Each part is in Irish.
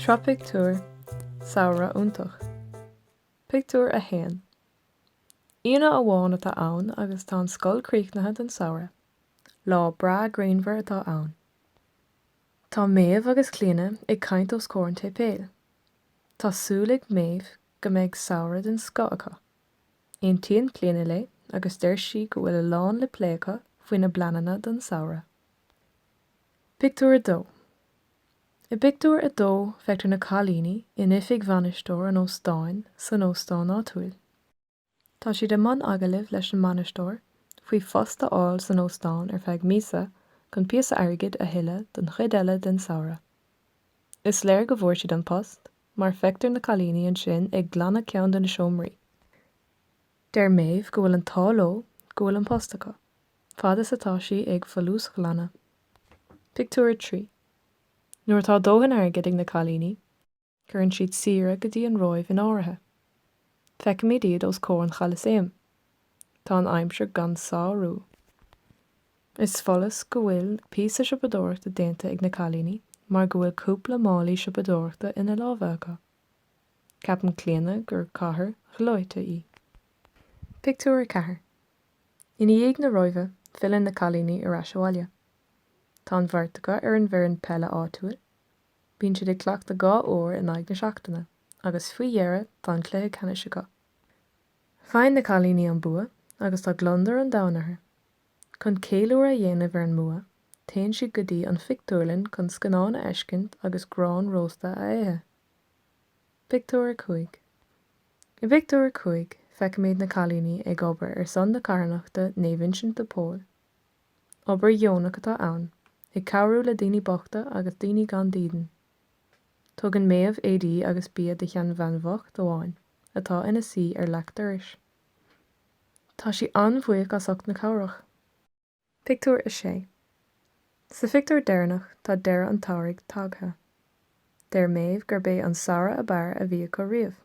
Sraith Pictiúr, Samhradh iontach. Pictiúr 1 Aoine amháin atá ann agus tá an scoil críochnaithe don samhradh. Lá breá grianmhar atá ann. Tá Méabh agus Clíona ag caint os comhair an tséipéil. Tá súil ag Méabh go mbeidh samhradh den scoth acu. Aontaíonn Clíona léi agus deir sí go bhfuil a lán le plé acu faoina bpleananna don samhradh. Pictiúr 2 I bpictiúr a dó feictear na cailíní in oifig bhainisteoir an óstáin san óstán áitiúil. Tá siad i mbun agallaimh leis an mbainisteoir faoi phost a fháil san óstán ar feadh míosa chun píosa airgid a thuilleadh don chuid eile den samhradh. Is léir go bhfuair siad an post mar feictear na cailíní ansin ag glanadh ceann de na seomraí. Deir Méabh go bhfuil an t-ádh leo go bhfuil an post acu, fad is atá sí ag folúsghlanadh. Pictiúr 3 Nuair atá dóthain airgid ag na cailíní, cuireann siad saoire go dtí an Róimh in áirithe. Feicimid iad os comhair an Cholasaeim. Tá an aimsir gan sárú. Is follas go bhfuil píosa siopadóireachta déanta ag na cailíní mar go bhfuil cúpla málaí siopadóireachta ina lámha acu. Ceapann Clíona gur chathair ghleoite í. Pictiúr 4 Ina dhiaidh na Róimhe, filleann na cailíní ar ais abhaile. Tá an bheirt acu ar an bhfoireann peile áitiúil. Bíonn siad ag cleachtadh dhá uair in aghaidh na seachtaine agus faoi dheireadh tá an cluiche ceannais acu. Faigheann na cailíní an bua agus tá gliondar an domhain orthu. Chun ceiliúradh a dhéanamh ar an mbua, téann siad go dtí an phictiúrlann chun scannán a fheiscint agus grán rósta a ithe. Pictiúr 5 I bpictiúr a cúig, feicimid na cailíní ag obair ar son na carthanachta Naomh Uinseann de Pól. Obair dheonach atá ann, ag cabhrú le daoine bochta agus daoine gan dídean. Tugann Méabh éadaí agus bia do sheanbhean bhocht amháin atá ina suí ar leac dorais. Tá sí an-bhuíoch as ucht na cabhrach. Pictiúr 6 Sa phictiúr deireanach tá deireadh an tsamhraidh tagtha. Deir Méabh gurb é an samhradh ab fhearr a bhí acu riamh.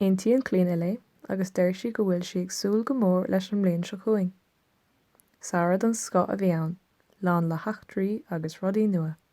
Aontaíonn Clíona léi agus deir sí go bhfuil sí ag súil go mór leis an mbliain seo chugainn. Samhradh den scoth a bhí ann, lán le heachtraí agus rudaí nua.